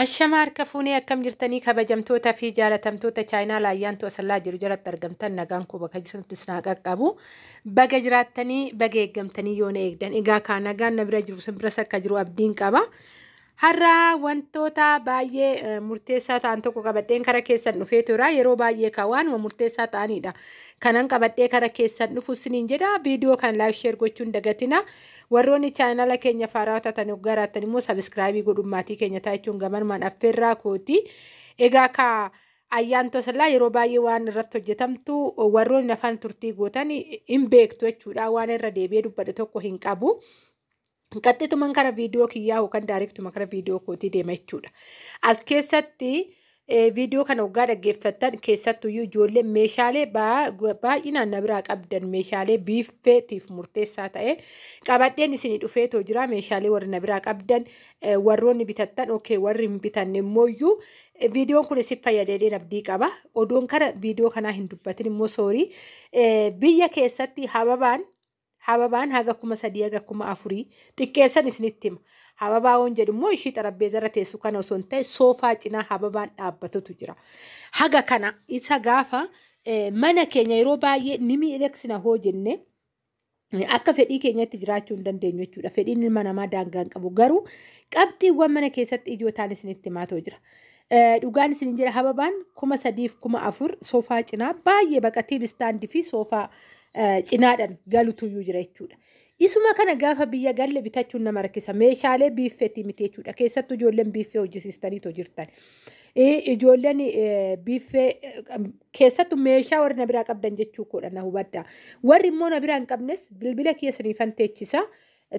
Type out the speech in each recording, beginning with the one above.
Ashama harka fuunee akkam jirtanii kabajamtoota fi jaalatamtoota chaayinaala ayyaantu asallaa jiru jalatti argamtan nagaan koo bakka jirtanitti isin haa qaqqabu. Baga jiraattanii baga eeggamtanii yoo na eegdan egaa kaa nagaan na bira jiru sin biras akka jiru abdiin qaba. Har'a wantoota baay'ee eh, murteessaa ta'an tokko qabadheen kara keessan dhufee tura. Yeroo baay'ee kaa waanuma murteessaa ta'anidha. Kanan qabadhee kara keessan dhufu isiniin jedha. Viidiyoo kan laayik sheer gochuun dagatina. Warroonni chaanala keenya faaraa taatan yoo garaattan immoo sabiskiraabii godhuun maatii keenya taa'ichuun gamanumaan affeerraa kooti. Egaa kaa ayyaan tosalaa yeroo baay'ee waan irratti hojjetamtu warroonni afaan turtii gootan hin beektu jechuudha. Waan irra deebi'ee dubbadhe tokko hin qabu. Qaxxituman kara viidiyoo kiyyaa yookaan daariktuma kara viidiyoo kootii deema jechuudha. As keessatti Viidiyoo kana waggaa dhaggeeffattan keessattuyyuu ijoollee meeshaalee baay'inaan na biraa qabdan meeshaalee biiffeetiif murteessaa ta'e qabadheen isinii dhufeetoo jira meeshaalee warri na biraa qabdan warroonni bitattan ok warri hin bitanne immooyyuu viidiyoon kun isin fayyadeedheen abdii qaba odoon kana viidiyoo kanaa hin dubbatin immoo soorii biyya keessatti hababaan Hababaan haga kuma sadii haga kuma afurii xiqqeessan isinitti hima. Hababaa woon jedhu immoo ishii xarabbeezarra teessu kana osoo hin ta'e soofaa cinaa hababaan dhaabbatutu jira. Haga kana isa gaafa eh, mana keenya yeroo baay'ee ni miidhagsina hoo jennee akka fedhii keenyatti jiraachuu hin dandeenyu jechuudha. Fedhiin ilma namaa daangaa hin qabu. Garuu qabxiiwwan mana keessatti ijoo ta'an isinitti himaa ta'u jira. Eh, Dhugaan isinin jedha hababaan kuma sadiif kuma afur soofaa cinaa baay'ee baqa tiiv istaandii fi soofaa cinaadhaan galutuyyuu jira jechuudha. Isuma kana gaafa biyya galle bitachuun nama rakkisa. Meeshaalee biiffeetii miti jechuudha. Keessattuu ijoolleen biiffee hojjisiistaniitoo jirtan. Ijoolleen biiffee keessattuu meeshaa warri na biraa qabdan jechuu koodha na hubadha. Warri immoo na biraa hin qabnes bilbila keessaniifan teechisa.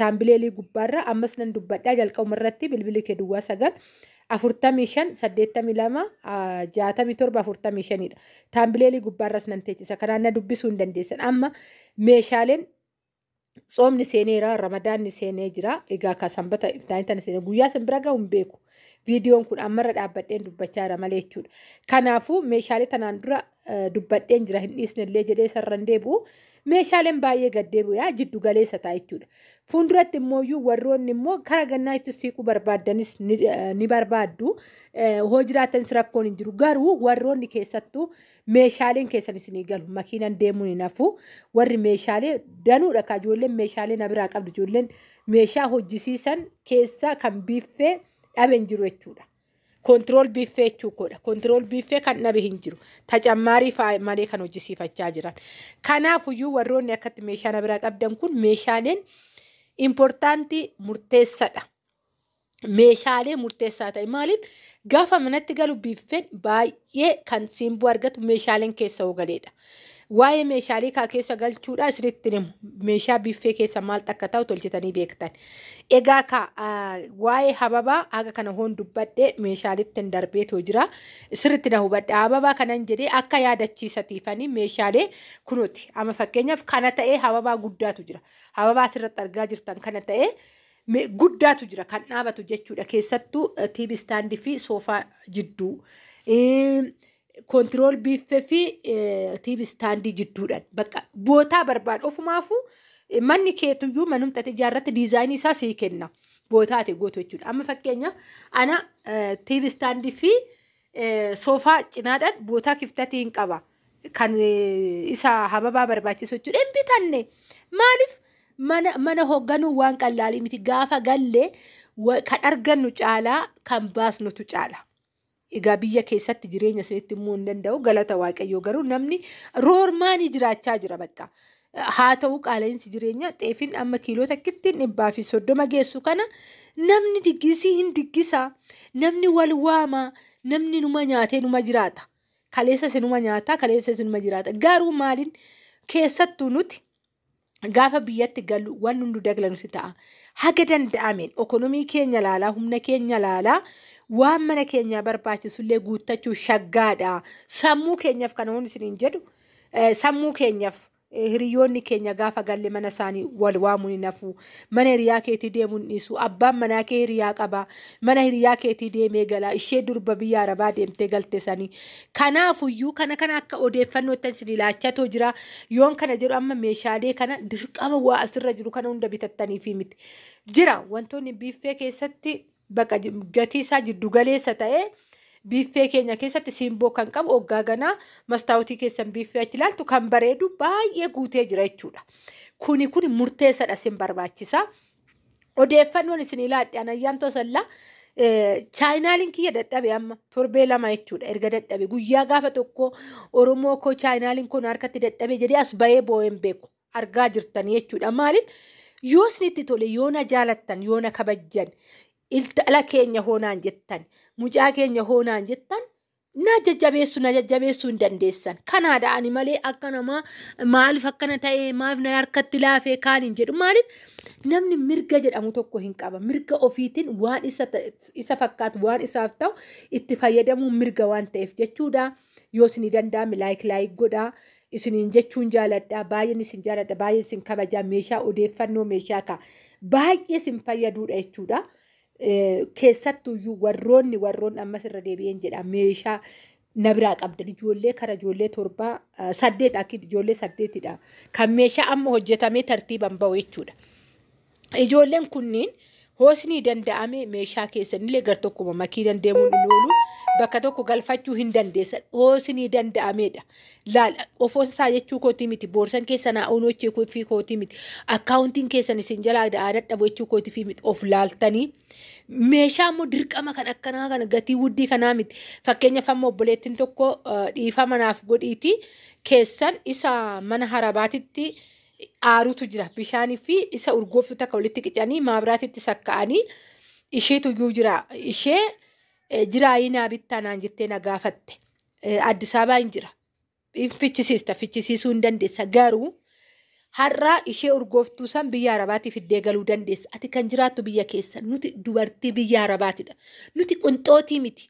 Taambileelii gubbaarra ammas nan dubbadhaa jalqabuma irratti bilbili kee duwwaa sagal afurtamii shan saddeettamii lama jaatamii torba afurtamii shanidha. Taambileelii gubbaarras nan teechisa kanaan na dubbisuu hin dandeessan amma meeshaaleen tsoomni seeneera ramadaanni seenee jira egaa ka sanbata iftaanii tana seenee guyyaa sin bira gahu hin beeku. Viidiyoon kun ammarra dhaabbadheen dubbachaa jira malee jechuudha. Kanaafuu meeshaalee tanaan dura dubbadheen jira hin dhiisnellee jedhee isarran deebi'u meeshaaleen baay'ee gad deebi'aa jiddu galeessa ta'a jechuudha. Fuulduratti immoo iyyuu warroonni immoo kara gannaa itti siiquu barbaaddanis ni, eh, ni barbaaddu. Eh, hoo jiraatanis rakkoon hin jiru. Garuu warroonni keessattuu meeshaaleen keessan isinii galu. Makiinan deemuun hin hafu. Warri meeshaalee danuudha kaa ijoolleen meeshaalee na biraa qabdu. Ijoolleen meeshaa hojjisiisan keessaa kan biiffee dhabe hin jiru jechuudha. Kontirool biiffee jechuun koodha. Kontirool biiffee kan dhabe hin jiru. Tacammaarii fa'a malee kan hojjisiifachaa jiran. Kanaafuyyuu warroonni akkatti meeshaa na biraa qabdan kun meeshaaleen impoortaantii murteessadha. Meeshaalee murteessaa ta'e maaliif gaafa manatti galu biiffeen baay'ee baay'ee kan simboo argatu meeshaaleen keessa hoo galeedha. Waa'ee meeshaalee kaa keessa galchuudhaa isinitti himu. Meeshaa biiffee keessa maaltu akka ta'u tolchitanii beektan. Egaa kaa ah, waa'ee hababaa haga kana hoon dubbadhe meeshaalitti hin darbeetoo jira. Sirritti na hubadha. Hababaa kanan jedhee akka yaadachiisatiifanii meeshaalee kunuuti. Amma fakkeenyaaf kana ta'ee hababaa guddaatu jira. Hababaa asirratti argaa jirtan kana ta'ee me- guddaatu jira kan dhaabatu jechuudha keessattuu eh, TV stand fi soofaa jidduu Eem, kontirool biiffee fi eh, TV standii jidduudhaan bakka bootaa barbaadu ofumaafuu eh, manni keetuyyuu manumti ati ijaarratti diizaayinii isaa sii kenna bootaa ati gootu jechuudha amma fakkeenyaaf ana eh, TV standii fi Soofaa cinaadhaan bootaa kiftatii hin qaba. Kan isa hababaa barbaachisu jechuudha. Hin bitanne. Maaliif mana, mana hoogganuu waan qallaalii miti. Gaafa galle wa- kan argannu caalaa kan baasnutu caala. Egaa biyya keessatti jireenya isinitti immoo hin danda'u. Galata Waaqayyoo garuu namni roormaanii jiraachaa jira bakka. Haa ta'u qaala'insi jireenyaa xeefiin amma kiiloo takkittiin dhibbaa fi soddoma geessu kana namni diggisii hin diggisaa namni wal waamaa namni numa nyaatee numa jiraata kaleessa sinuma nyaataa kaleessa sinuma jiraata garuu maaliin keessattuu nuti gaafa biyyatti gallu waan hundu daglamu si ta'a haga danda'ameen ekonomii keenya laalaa humna keenya laalaa waan mana keenyaa barbaachisullee guuttachuu shaggaadha sammuu keenyaaf kana waan isiniin jedhu Sammuu keenyaf hiriyoonni keenya gaafa galle mana isaanii wal waamuun hin hafu. Mana hiriyaa keetii deemuu hin dhiisu. Abbaan manaa kee hiriyaa qaba. Mana hiriyaa keetii deemee gala. Ishee durba biyya arabaa deemtee galte sanii. Kanaafuyyuu kana kana akka odeeffannoottan isinii laachatoo jira. Yoon kana jedhu amma meeshaalee kana dirqama waa asirra jiru kana hunda bitattaniifii miti. Jira wantoonni biiffee keessatti Baqa gatii isaa jiddu galeessa ta'e biiffee keenya keessatti siimboo kan qabu oggaa ganaa mastaawotii keessan biiffee achi ilaaltu kan bareedu baay'ee guutee jira jechuudha. Kuni kuni murteessadha isin barbaachisa. Odeeffannoon isin ilaadhe anayyaan tosallaa chaayinaaliin kiyya dadhabe amma torbee lama jechuudha erga dadhabe guyyaa gaafa tokko oromoo koo chaayinaaliin koo na harkatti dadhabe jedhee as bahee boo'een beeku argaa jirtan jechuudha. Maaliif yoo isinitti tole yoo na jaalattan yoo na kabajjan intala keenya hoonaan jettan mucaa keenya hoonaan jettan na jajjabeessu na jajjabeessuu hin dandeessan. Kanaadha ani malee akka namaa maaliif akkana ta'e maaliif na harkatti laafee kaan hin jedhu maaliif namni mirga jedhamu tokko hin qaba. Mirga ofiitiin waan isa, ta- isa fakkaatu waan isaaf ta'u itti fayyadamuun mirga waan ta'eef jechuudha. yoo isinii danda'ame laayik laayik godhaa isiniin jechuun jaaladha baay'een isin jaaladha baay'ee isin kabajaa meeshaa odeeffannoo meeshaa ka baay'ee isin fayyaduudha jechuudha. Eh, Keessattuyyuu warroonni warroonni ammas irra deebi'een jedha meeshaa na biraa qabdan ijoollee kara ijoollee torbaa eh, saddeet akki ijoollee saddeetidha kan meeshaa amma hojjetamee tartiiban ba'u jechuudha. Ijoolleen kunniin hoosnii danda'ame meeshaa keessanillee gar tokkuma makiinan deemuun hin oolu bakka tokko galfachuu hin dandeessan hoosnii danda'ameedha. Laal ofoon isaa jechuu kootii miti boorsan keessan haa unochee kuffii kootii miti akkaawuntiin keessan isin jalaa da'aa dadhabu jechuu kootii fi miti of laaltanii meeshaa immoo dirqama kan akkanaa kana gatii wuddii kanaa miti fakkeenyaaf amma obboleettiin tokko dhiifama naaf godhiitii keessan isa mana harabaatitti aarutu jira. Bishaanii fi isa urgooftuu takka walitti qicanii maabiraatitti sakka'anii isheetu iyyuu jira. Ishee eh, jiraayii naa bittaa naan jettee na gaafatte. Eh, Addis Ababaa hin jira. Hin fichisiista, fichisiisuu hin dandeessa. Garuu har'a ishee urgooftuu san biyya Arabaatii fiddee galuu dandeessa. Ati kan jiraattu biyya keessa. Nuti dubartii biyya Arabaatidha. Nuti qunxootii miti.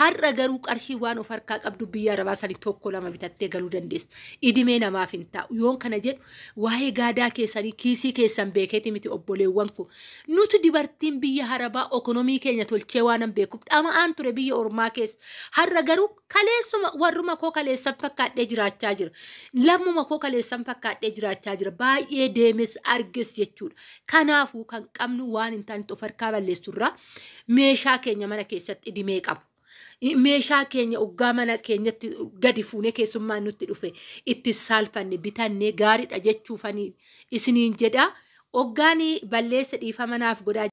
Har'a garuu qarshii waan of harkaa qabdu biyya arabaa sani tokko lama bitattee galuu dandeessa. Idimee namaaf hin taa'u. Yoon kana jedhu waa'ee gaadaa keessanii kiisii keessan beekeeti miti obboleewwan koo. Nuti dubartiin biyya harabaa ekonomii keenya tolchee waanan beekuuf dhama'aan ture biyya ormaa keessa. Har'a garuu kaleessuma warruma koo kaleessan fakkaadhee jiraachaa jira. Lammuma koo kaleessan fakkaadhee jiraachaa jira. Baay'ee deemes arges jechuudha. Kanaafuu kan qabnu waan hin taanetti of harkaa balleessu irraa meeshaa keenya mana keessatti idimee qabu. I- Meeshaa keenya oggaa mana keenyatti gadi fuunee keessummaan nutti dhufe itti saalfanne bitannee gaariidha jechuufanii isiniin jedha. Oggaanii balleessa dhiifama naaf godhaa